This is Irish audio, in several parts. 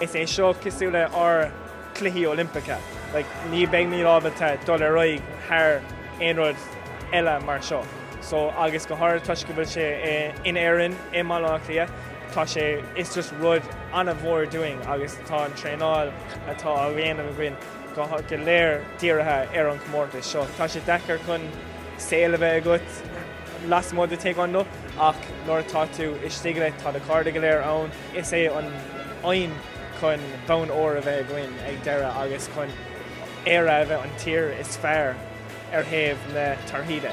Is é seo cosúil le ár gCluichí Oilimpeacha. Like, ní beimid ábalta dul ar aghaidh thar aon rud eile mar seo. So agus go háirid toisc go bhfuil sé in Éirinn, i mBaile Átha Cliath, tá sé, it's just rud an-mhór dúinn agus tá an traenáil atá á dhéanamh againn, go léir dírithe ar an chomórtas seo. Tá sé deacair chun saol a bheith agat lasmuigh de Taekwon-Do ach nuair atá tú istigh leis tá do chairde go léir ann. Is é an aidhm chun bonn óir a bheith againn ag an deireadh agus chun Éire a bheith an tír is fearr ar thaobh na torthaí de.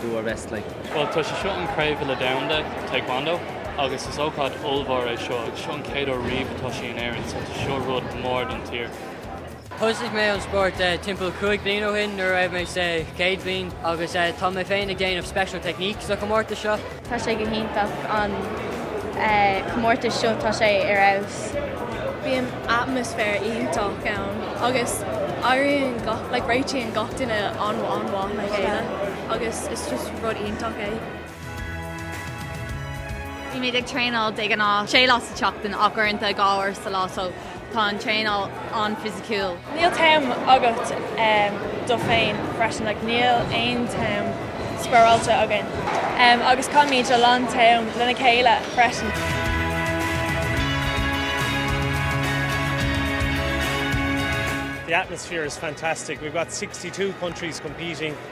do our best. Like. Bhuel, tá sé seo an Craobh Uile Domhanda Taekwon-Do agus is ócáid ollmhór é seo agus seo an chéad uair riamh atá sé in Éirinn so tá seo rud mór don tír. Thosaigh mé an spórt timpeall cúig bliain ó shin nuair a raibh mé sa chéad bhliain agus tá mé féin ag déanamh special technique sa chomórtas seo. Tá sé go hiontach an comórtas seo, tá sé ar fheabhas. Bíonn atmaisféar iontach ann agus éiríonn gach, like réitíonn gach duine an-mhaith le chéile agus it's just rud iontach é. Bímid ag traenáil de ghnáth sé lá sa tseachtain ach uaireanta dhá uair sa lá so Tá an traenáil an-fhisiciúil. Níl time agat do féin freisin. Like, níl aon time spáráilte againn. Agus caithimid a lán time lena chéile freisin. The atmosphere is fantastic. We've got sixty-two countries competing.